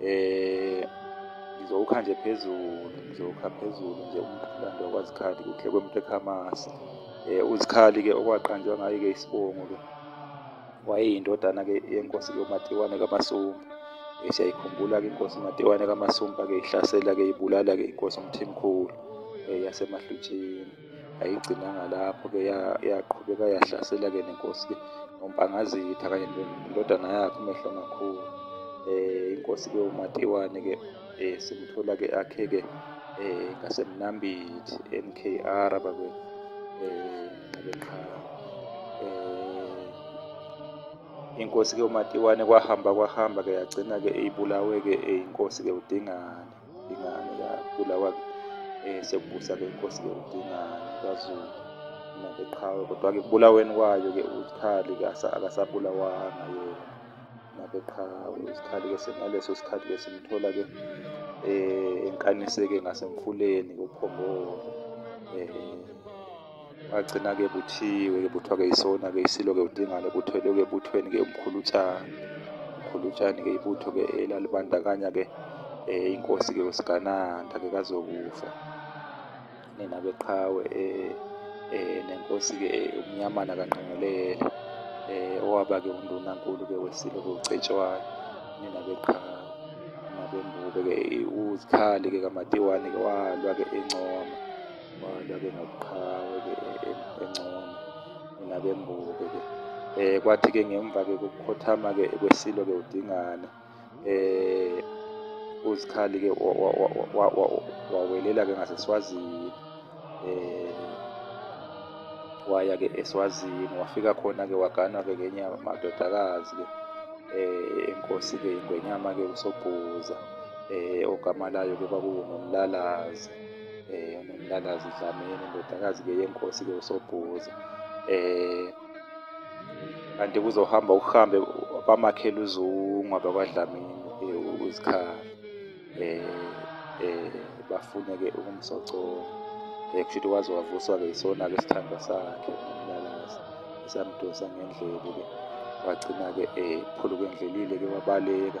eh ngizowukha nje phezulu ngizowukha phezulu nje umlando wakwazikhali kuhle kwemtekhamasa um eh, uzikhali-ke okwaqanjwa ngayo-ke isibongo-ke wayeyindodana-ke yenkosi yomatiwane kamasumba um siyayikhumbula-ke inkosi umatiwane kamasumba-ke ihlasela-ke ibulala-ke inkosi umthimkhulu um eh, yasemahlutsheni ayigcinanga lapho-ke yaqhubeka yahlasela-ke nenkosi-ke nompangazitha kanye nendodana yakhe umehlo makhulu um eh, inkosi-ke umatiwane-ke um eh, simthola-ke akhe-ke um eh, ngasemnambithi n k r bakwethu um nxebeqhala um inkosi-ke umatiwane kwahamba kwahamba-ke yagcina-ke ibulawe-ke inkosi-ke udingane Dingane yakhula wa eh sekubusa ke inkosi ke uDingane kaZulu mina ngeqhawe kodwa ke kubulaweni kwayo ke uzikhali ke akasabulawanga yena nabeqhawe uzikhali ke sengaleso sikhathi ke simthola ke eh enkaniseke ngasemfuleni kuphongolo eh Wagcina-ke buthiwe-ke buthiwa-ke isona-ke isilo-ke udingane buthwelwe-ke buthweni-ke umkhulutshane umkhulutshane-ke ibutho-ke elalibandakanya-ke um inkosi-ke usigananda-ke kazokufa nina beqhawe um um nenkosi-ke umnyamana kanqengelele um owaba-ke undunankulu-ke wesilo-ke ucetshwayo nina beqhawe nabembube-ke uzikhali-ke kamatiwane-ke walwa-ke encoma Abantu abe nobuqhawe engcono nabe mbuke ke eh kwathi ke ngemva ke kokukhothama ke kwesilo ke udingana eh uzikhali ke wawelela ke ngaseswazini eh waya ke eswazini wafika khona ke waganwa ke ngenye amadodakazi ke eh inkosi ke ingwenyama ke usobhuza eh ogama layo ke kwakuwumlalazi eh nomntandazi udlamini indodakazi ke yenkosi ke usobhuza eh kanti kuzohamba ukuhambe bamakhela uzungu abakwadlamini eh, uzikhala eh eh bafune ke ukumsocoka eh kushuthi waze wavuswa ke isona ke sithandwa sakhe umntandazi samdosa ngendlebe ke wagcina ke eh phuluke endlelile ke wabaleka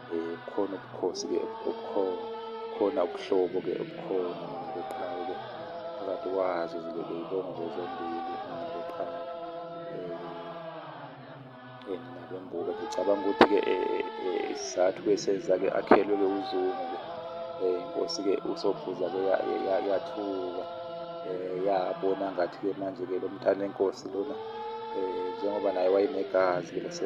um khona ubukhosi-ke obukhona khona ubuhlobo-ke obukhona ngeqhawe-ke phakathi kwazo zilele ibongo zombili ngeqhawe um nabembuka ngicabanga ukuthi-ke isizathu-ke senza-ke akhelwe-ke uzungu-ke um inkosi-ke usophuza-ke yathuka um yabona ngathi-ke manje-ke lo mntana enkosi lona um njengoba naye wayenegazi-ke lase